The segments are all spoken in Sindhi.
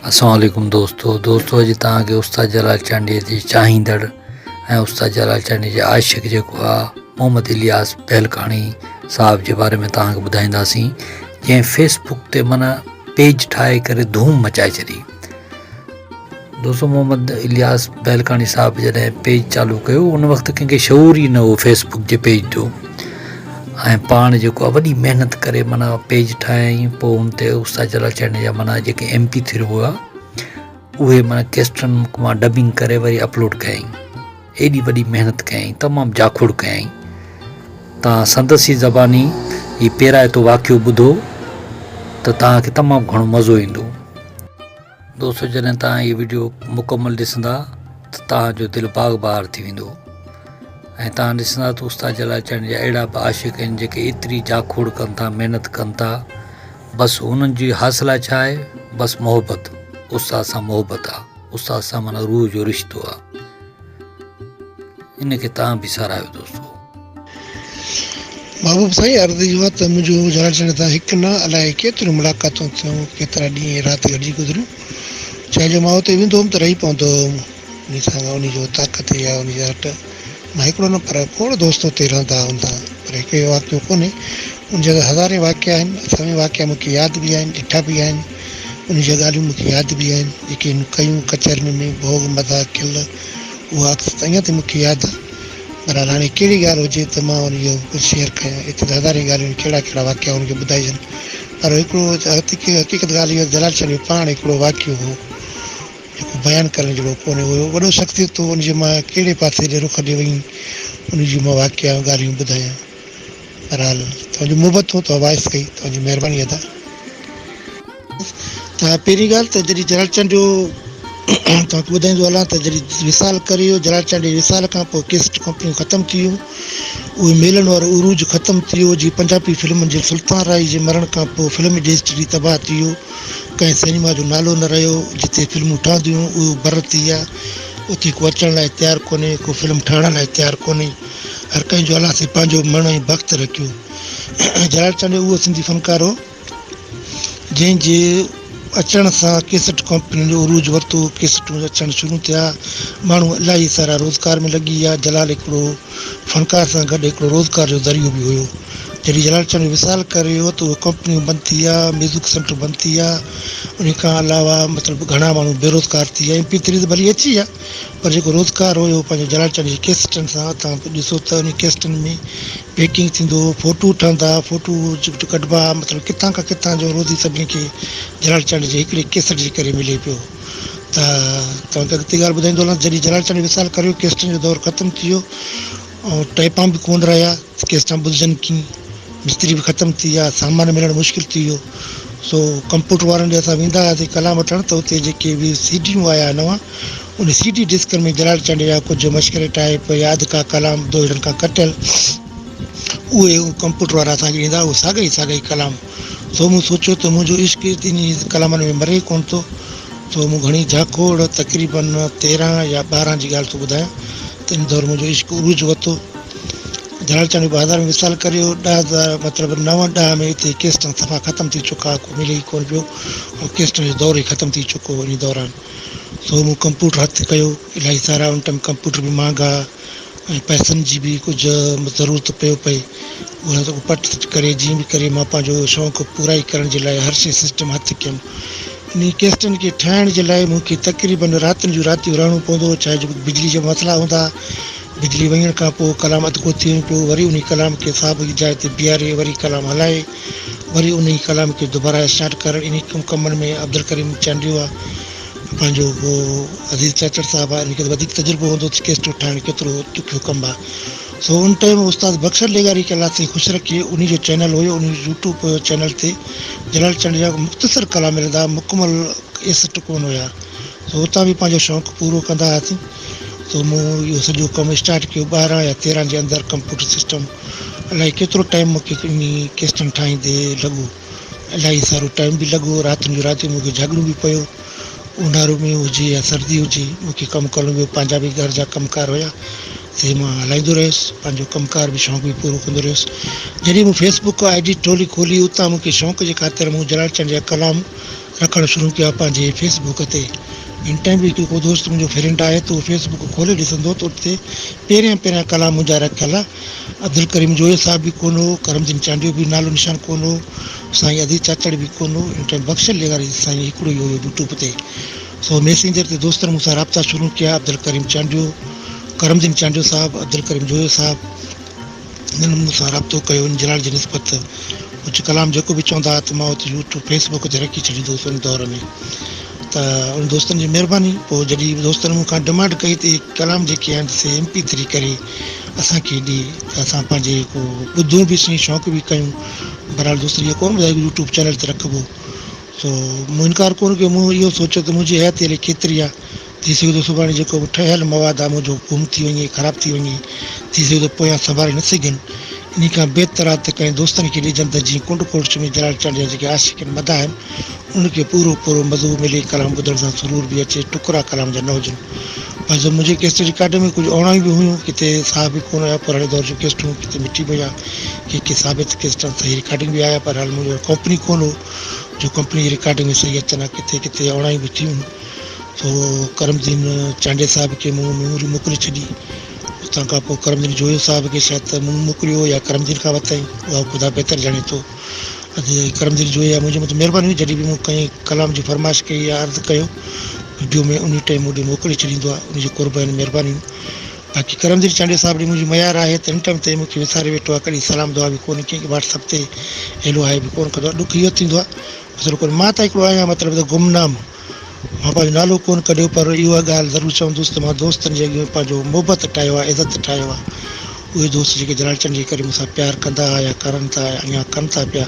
السلام عليڪم دوستو دوستو اڄ توهان کي استاد جلال چانڊيي جي چاهيندڙ ۽ استاد جلال چانڊيي جي عاشق جيڪو آهي محمد الياس پهلڪاڻي صاحب جي باري ۾ توهان کي ٻڌائينداسين جنهن فيسبڪ تي معنيٰ پيج ٺاهي ڪري ڌوم مچائي ڇڏي دوست محمد الياس بهلڪاڻي صاحب جڏهن پيج چالو ڪيو ان وقت ڪنهن کي شعور ئي نه هو فيس بڪ جي پيج جو ۽ پاڻ جيڪو آهي وڏي محنت ڪري مانا پيج ٺاهيائين پوء ان تي استاد جلال چيني جا مانا جيڪي ايم پي ٿري هئا اهي مانا ڪيسٽن مان ڊبنگ ڪري وري اپلوڊ ڪيائين ايڏي وڏي محنت ڪيائين تمام جاکوڙ ڪيائين تان سندس ئي زباني هي پيرائتو واقعو ٻڌو ته تان کي تمام گهڻو مزو ايندو دوستو جڏهن توهان هي وڊيو مڪمل ڏسندا ته توهان جو دل باغ بهار ٿي ويندو ۽ توهان ڏسندا ته استاد جلال چياڻي جا اهڙا به عاشق آهن جيڪي ايتري جاکوڙ ڪن ٿا محنت ڪن ٿا بس انهن جي حاصله ڇا آهي بس محبت استاد سان محبت آهي استاد سان معنيٰ روح جو رشتو آهي ان کي توهان به ساراهيو دوستو. محبوب سائين عرض اهو آهي ته منهنجو ڄاڻڻ ڄاڻڻ تان هڪ نه الائي ڪيتريون ملاقاتون ٿيون ڪيترا ڏينهن ۽ رات گڏجي گذريون جنهن جو مان اتي ويندو هوم ته رهي پوندو هوم انهي سان انهي جو طاقت يا انهي جا هٽ مان هڪڙو نه پر کوڙ دوست اتي رهندا هوندا پر هڪڙي واقعو ڪونهي ان جا ته هزارين واقعا آهن سوين واقعا مون کي ياد به آهن ڏٺا به آهن. انهيء جون ڳالهيون مون کي ياد به آهن، جيڪي هن ڪيون، ڪچهرين ۾ ڀوڳ مداح ڪيل اها عڪس ته اڃا تائين مون کي ياد آهي. بهرحال هاڻي ڪهڙي ڳالهه هجي ته مان هن اهو ڪجهه شيئر ڪيان، ايتريون ته هزارين ڳالهيون آهن، ڪهڙا ڪهڙا واقعا هن کي ٻڌائجن، پر هڪڙو حقيقت ڳالهه اهو آهي ته جلال شاهه جو پاڻ هڪڙو واقعو هو، جيڪو بيان ڪرڻ جهڙو ڪونهي، اهو وڏو شخصيت هو، ان جي مان ڪهڙي پاسي ڏي رخ ڏي وئين، انهيء جون مان واقعا ۽ ڳالهيون ٻڌايان. بھرحال توھان جون محبتون تو وائس ڪئي توھان جي مھرباني ادا. ته پهرين ڳالهه ته جڏهن جلال چانڊيو توهان کي ٻڌائيندو هلان ته جڏهن وصال ڪري ويو جلال چانڊيو جي وصال کان پوء ڪيسٽ ڪمپنيون ختم ٿي ويون اهي ميلن وارو عروج ختم ٿي ويو جي پنجابي فلمن جي سلطان راهي جي مرڻ کان پوء فلمي ڊيسٽري تباهه ٿي ويو ڪنهن سئنيما جو نالو نه رهيو جتي فلمون ٺهنديون هيون اهو بر ٿي ويا اتي ڪو اچڻ لاء تيار ڪونهي ڪو فلم ٺاهڻ لاء تيار ڪونهي هر ڪنهن جو الله سين پنهنجو مڻ ۽ بخت رکيو. جلال چانڊيو اهو سنڌي فنڪار هو، جنهن جي اچڻ سان ڪيسٽ ڪمپنين جو عروج ورتو، ڪيسٽون اچڻ شروع ٿيا، ماڻهو الاهي سارا روزگار ۾ لڳي ويا، جلال هڪڙو فنڪار سان گڏ هڪڙو روزگار جو ذريعو به هيو. جڏهن جلال چانڊيو وصال ڪري ويو ته اهي ڪمپنيون بند ٿي ويا، ميوزڪ سينٽر بند ٿي ويا، انهي کان علاوه مطلب گهڻا ماڻهو بيروزگار ٿي ويا ۽ پي تريز ڀلي اچي ويا. پر جيڪو روزگار هو اهو پنهنجي جلاٽن جي ڪيسٽن سان توهان ڏسو ته انهي ڪيسٽن ۾ پيڪنگ ٿيندو هو فوٽو ٺهندا فوٽو ڪڍبا مطلب ڪٿان کان ڪٿان جو روزي سڀني کي جلاٽ چانڊ جي هڪڙي ڪيسٽ جي ڪري ملي پيو ته توهان کي اڳتي ڳالهه ٻڌائيندو هلان ته جڏهن جلاٽ چانڊ وصال ڪريو ڪيسٽن جو دور ختم ٿي ويو ۽ ٽيپان به ڪونه رهيا ته ڪيس تان ٻڌجن ڪيئن؟ مستري به ختم ٿي ويا، سامان ملڻ مشڪل ٿي ويو، سو ڪمپيوٽر وارن ڏي اسان ويندا هئاسين ڪلام وٺڻ ته اتي جيڪي به سي ڊيون آيا هئا نوان، انهي سي ڊي ڊسڪن ۾ جلال چانڊيو جا ڪجهه مشڪري ٽائيپ، ياد ڪا ڪلام دوهيڙن کان ڪٽيل، اهي ڪمپيوٽر وارا اسان کي ڏيندا هئا، اهي ساڳا ئي ساڳا ئي ڪلام، سو مون سوچيو ته منهنجو عشق ئي انهي ڪلامن ۾ مري ڪونه ٿو، سو مون گهڻي جهاڪوڙ، تقريبن تيرهن يا ٻارهن جي ڳالهه ٿو ٻڌايان، تنهن دور منهنجو عشق عروج وتو. ڌراڙچڻ جو بازار ۾ وصال ڪري ويو. ڏهه هزار مطلب نو ڏهه ۾ اتي ڪيسٽون صفا ختم ٿي چڪا ها، ڪو ملي ئي ڪونه پيو. هو ڪيسٽن جو دور ئي ختم ٿي چڪو هو انهي دوران. سو مون ڪمپيوٽر هٿ ڪيو. الاهي سارا ان ٽائيم ڪمپيوٽر به مهانگا ها ۽ پئسن جي به ڪجهه ضرورت پيو پئي. اها سڀ پٽ سٽ ڪري جيئن به ڪري مان پنهنجو شونق پورائي ڪرڻ جي لاء هر شيء سسٽم هٿ ڪيم. انهن ڪيسٽن کي ٺاهڻ جي لاء مون کي تقريباً راتن جون راتيون رهڻو پوندو، ڇا جو بجلي جا مسئلا هوندا. بجلي وڃڻ کان پوء ڪلام اڌڪو ٿي وڃبو، وري انهي ڪلام کي سابقي جاء تي بيهاري وري ڪلام هلائي وري انهي ڪلام کي دوباره اسٽارٽ ڪرڻ انهي ڪمن ۾ عبدالڪريم چانڊيوا پنهنجو عزيز چاچڙ صاحب آهن انهن کي ته وڌيڪ تجربو هوندو ته ڪيسٽون ٺاهڻ ڪيترو ڏکيو ڪم آهي. سو ان ٽيم استاد بخشل لغاري ڪلاس تي خوش رکي انهي جو چينل هيو انهي جو يوٽيوب چينل تي جلال چنڊ جا مختصر ڪلام ملندا مڪمل ڪيسٽ ڪون هيا سو اتان به پنهنجو شوق پورو ڪندا هئاسين سو مون اهو سڄو ڪم اسٽارٽ ڪيو ٻارهن يا تيرهن جي اندر ڪمپيوٽر سسٽم الائي ڪيترو ٽائيم مون کي انهي ڪيسٽن ٺاهيندي لڳو. الاهي سارو ٽائيم به لڳو، راتين جون راتيون مون کي جاڳڻو به پيو، اونهارو ۾ هجي يا سردي هجي، مون کي ڪم ڪرڻو پيو، پنهنجا به گهر جا ڪم ڪار هيا، سي مان هلائيندو رهيس، پنهنجو ڪم ڪار به شوق به پورو ڪندو رهيس، جڏهن مون فيس بڪ آء ڊي ٽولي کولي، اتان مون کي شوق جي خاطر مون جلال چنڊ جا ڪلام رکڻ شروع ڪيا پنهنجي فيس بڪ تي، ان ٽائيم به ڪو دوست منهنجو فرينڊ آهي ته اهو فيس بڪ کولي ڏسندو ته ان تي پهريان پهريان ڪلام منهنجا رکيل عبدالڪريم جويو صاحب به ڪونه هو، ڪرم جنگ چانڊيو به نالو نشان ڪونه هو، سائين عزيز چاچڙ به ڪونه هو، ان ٽائيم بخش لغاري سائين هڪڙو ئي هيو يوٽيوب تي، سو ميسينجر تي دوستن مون سان رابطا شروع ڪيا، عبدالڪريم چانڊيو، ڪرم جنگ چانڊيو صاحب، عبدالڪريم جويو صاحب، انهن مون سان رابطو ڪيو، ان جلاڙ جي نسبت ته اچ ڪلام جيڪو به چوندا ها ته مان اچ يوٽيوب فيس بوڪ تي رکي ڇڏيندو هوس ان دور ۾ ته ان دوستن جي مهرباني پوء جڏهن دوستن مون کان ڊمانڊ ڪئي ته اهي ڪلام جيڪي آهن سي ايم پي ٿري ڪري اسان کيڏي ته اسان پنهنجي ڪو ٻڌون به سھي شوق به ڪيون بھرحال دوست ايئن ڪون ٻڌايو يوٽيوب چينل تي رکبو سو مون انڪار ڪون ڪيو مون اھو سوچيو ته منهنجي حياتي الائي ڪيتري آ ٿي سگھي ٿو سڀاڻي جيڪو به ٺهيل مواد آ منهنجو گم ٿي وڃي خراب ٿي وڃي ٿي سگھي ٿو پويان سنڀالي نه سگھين انھي کان بھتر آ ته ڪنهن دوستن کي ڏجن ته جيئن ڪنڊ ڪوٽ چمي جلال چانڊيا جيڪي عاشق ۽ مداح آھن ان کي پورو پورو مزو ملي، ڪلام ٻڌڻ سان سرور به اچي، ٽڪرا ڪلام جا نه هجن. بعض منهنجي ڪيسٽ رڪارڊ ۾ ڪجهه اوڻائيون به هيون، ڪٿي ساهه به ڪونه آيا، پراڻي دور جون ڪيسٽون ڪٿي مٽي ۾ ويا، ڪي ڪي ثابت ڪيسٽان صحيح رڪارڊنگ به آيا، بهرحال منهنجي وٽ ڪمپني ڪونه هو، جو ڪمپني جي رڪارڊنگ ۾ صحيح اچن ها، ڪٿي ڪٿي اوڻائيون به ٿيون، سو ڪرم الدين چانڊيي صاحب کي مون ميموري موڪلي ڇڏي، اتان کان پوء ڪرم الدين جويو صاحب کي شايد ته مون موڪليو هو يا ڪرم الدين کان ورتائين، اها خدا بهتر ڄاڻي ٿو. اڳي اهي ڪرم دل جويي منهنجي مٿان مهرباني هئي جڏهن به مون ڪنهن ڪلام جي فرمائش ڪئي يا عرض ڪيو وڊيو ۾ انهي ٽئين مون ڏي موڪلي ڇڏيندو آهي ان جي قرب آهن مهربانيون باقي ڪرم دل چانڊيو صاحب ڏي منهنجي ميار آهي ته ان ٽئيم تائين مون کي وساري ويٺو آهي ڪڏهن سلام دعا به ڪونهي ڪنهن کي واٽس اپ تي هيلو هائي به ڪونه ڪندو آهي ڏک اهو ٿيندو آهي مطلب ڪونهي مان ته هڪڙو آهيان مطلب ته گمنام. مان پنهنجو نالو ڪونه ڪڍيو پر اها ڳالهه ضرور چوندس ته مان دوستن جي اڳيان پنهنجو محبت ٺاهيو آهي، عزت ٺاهيو آهي. اهي دوست جيڪي جلاڙچن جي ڪري مون سان پيار ڪندا ها يا ڪرن ٿا يا اڃا ڪن ٿا پيا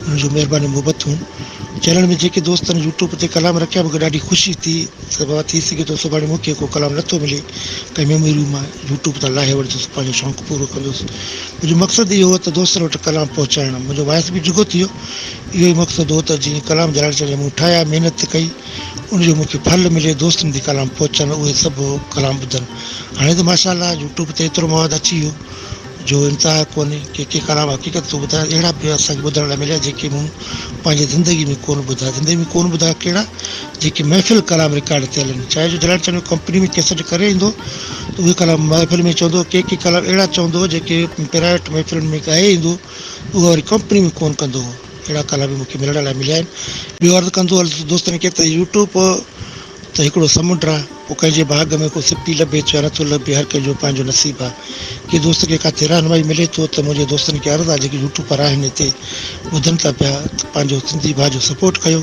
انهن جون مهربانيون محبتون چيلهڻ ۾ جيڪي دوستن يوٽيوب تي ڪلام رکيا مونکي ڏاڍي خوشي ٿي ته بابا ٿي سگهي ٿو سڀاڻي مونکي ڪو ڪلام نه ٿو ملي ڪنهن ميموريون مان يوٽيوب تان لاهي وٺندس پنهنجو شونق پورو ڪندس منهنجو مقصد اهو هو ته دوستن وٽ ڪلام پهچائڻ منهنجو وائس به ڊگهو ٿي ويو اهو ئي مقصد هو ته جيئن ڪلام جلال چوي مون ٺاهيا محنت ڪئي ان جو مون کي ڦل ملي دوستن تي ڪلام پهچن اهي سڀ ڪلام ٻڌن هاڻي ته ماشاء الله يوٽيوب تي ايترو مواد اچي ويو جو انتها ڪونهي ڪي ڪي ڪلام حقيقت ٿو ٻڌايان اهڙا به اسان کي ٻڌڻ لاء مليا جيڪي مون پنهنجي زندگي ۾ ڪونه ٻڌا زندگي ۾ ڪونه ٻڌا ڪهڙا جيڪي محفل ڪلام رڪارڊ ٿيل آهن چاهي جو جلال چانڊيو ڪمپني ۾ ڪيسٽ ڪري ايندو ته اهي ڪلام محفل ۾ چوندو ڪي ڪي ڪلام اهڙا چوندو جيڪي پرائيويٽ محفلن ۾ ڳائي ايندو اهو وري ڪمپني ۾ ڪونه ڪندو هو اهڙا ڪالا به مونکي ملڻ لاء مليا آهن ٻيو عرض ڪندو هلس دوستن کي ته يوٽيوب ته هڪڙو سمنڊ آهي پوء ڪنهن جي ڀاڳ ۾ ڪو سپي لڀي ٿو يا نٿو لڀي هر ڪنهن جو پنهنجو نصيب آهي ڪنهن دوست کي ڪاٿي رهنمائي ملي ٿو ته منهنجي دوستن کي عرض آهي جيڪي يوٽيوبر آهن هتي ٻڌن ٿا پيا ته پنهنجو سنڌي ڀاء جو سپورٽ ڪيو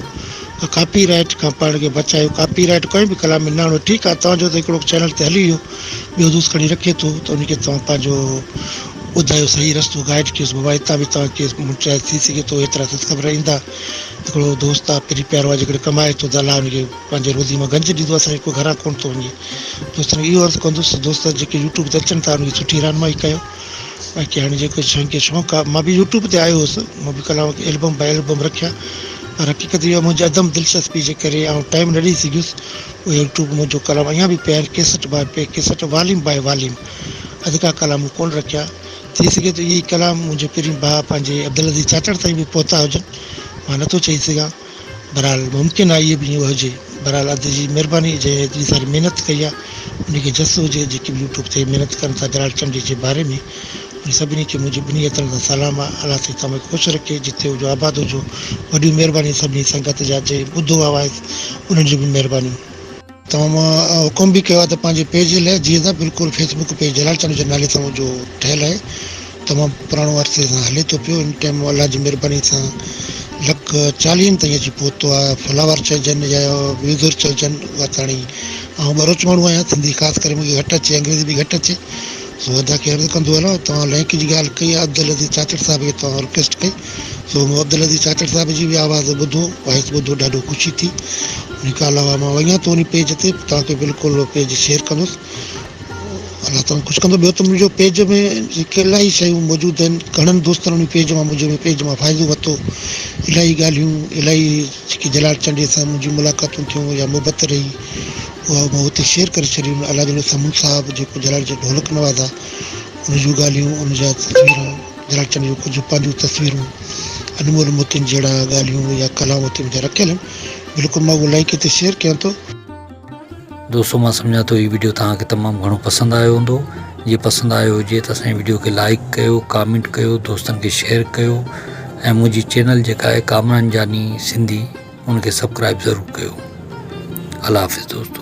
۽ ڪاپي رائيٽ کان پاڻ کي بچايو ڪاپي رائيٽ ڪنهن به ڪلام ۾ نه آڻو ٺيڪ آهي توهان جو ته هڪڙو چينل تي هلي ويو ٻيو دوست کڻي رکي ٿو ته ان کي توهان پنهنجو ٻڌايو صحيح رستو گائيڊ ڪيوس بابا اتان به توهان کي مٽرائي ٿي سگهي ٿو ايترا ست خبر ايندا هڪڙو دوست آ پري پيارو آ جيڪڏهن ڪمائي ٿو ته الله ان کي پنهنجي روزي مان گنج ڏيندو اسان کي ڪو گهران ڪونه ٿو وڃي دوستن کي اهو عرض ڪندس ته دوست جيڪي يوٽيوب تي اچن ٿا ان کي سٺي رهنمائي ڪيو باقي هاڻي جيڪو جنهن کي شوق آ مان به يوٽيوب تي آيو هوس مان به ڪلام البم باء البم رکيا پر حقيقت اها منهنجي عدم دلچسپي جي ڪري آئون ٽائيم نه ڏئي سگهيس اهي يوٽيوب منهنجو ڪلام اڃان به پيا آهن ڪيسٽ باء پ ڪيسٽ واليوم باء واليوم اڌڪا ڪلام مون ڪونه رکيا، ٿي سگهي ٿو اهي ئي ڪلام منهنجي پرين ڀاء پنهنجي عبدالعزيز چاچڙ تائين به پهتا هجن، مان نه ٿو چئي سگهان، بهرحال ممڪن آهي اهي به ايئن هجي، بهرحال ادي جي مهرباني جنهن ايتري ساري محنت ڪئي آهي انهي کي جس هجي، جيڪي به يوٽيوب تي محنت ڪن ٿا جلال چمڙي جي باري ۾ انهن سڀني کي منهنجي ٻنهي هٿن سان سلام آهي، الله سائين توهان کي خوش رکي، جتي هجو آباد هجو، وڏيون مهربانيون سڀني سنگت جا جنهن ٻڌو آهي وائس انهن جون به مهربانيون. توهان حڪم به ڪيو آهي ته پنهنجي پيج لئه جيئن ته بلڪل Facebook page Jalal Chand جي نالي سان هو جو ٺهيل آهي تمام پراڻو عرصي سان هلي ٿو پيو ان ٽيم الله جي مهرباني سان لک چاليهن تائين اچي پهتو آهي فالوور چئجن يا ويوزر چئجن اها ته هاڻي آئون ٻروچ ماڻهو آهيان سنڌي خاص ڪري مونکي گهٽ اچي انگريزي به گهٽ اچي سو ادا کي عرض ڪندو هلان توهان لئنڪ جي ڳالهه ڪئي آهي عبدالعزيز چاچڙ صاحب کي توهان رڪويسٽ ڪئي سو مون عبدالعزيز چاچڙ صاحب جي به آواز ٻڌو، وائس ٻڌو ڏاڍو خوشي ٿي. انهي کان علاوه مان وڃان ٿو انهي پيج تي توهان کي بلڪل اهو پيج شيئر ڪندس. الله توهان خوش ڪندو. ٻيو ته منهنجو پيج ۾ جيڪي الاهي شيون موجود آهن گهڻن دوستن انهي پيج مان منهنجي پيج مان فائدو ورتو. الاهي ڳالهيون الاهي جيڪي جلال چنڊيي سان منهنجيون ملاقاتون ٿيون يا محبت رهي اها مان اتي شيئر ڪري ڇڏيون. الاجلو سمون صاحب جيڪو جلال جي ڍولڪ نواز آهي ان جون ڳالهيون ان جا تصويرون. گراچن جون ڪجهه پنهنجون تصويرون، انمول موتين جهڙا ڳالهيون يا ڪلام اتي مٿي رکيل آهن، بلڪل مان اهو لائيڪ هتي شيئر ڪيان ٿو. دوستو مان سمجهان ٿو هي وڊيو توهان کي تمام گهڻو پسند آيو هوندو جي پسند آيو هجي ته اسان جي وڊيو کي لائيڪ ڪيو ڪامينٽ ڪيو دوستن کي شيئر ڪيو ۽ منهنجي چينل جيڪا آهي ڪامران جاني سنڌي ان کي سبڪرائب ضرور ڪيو الله حافظ دوستو.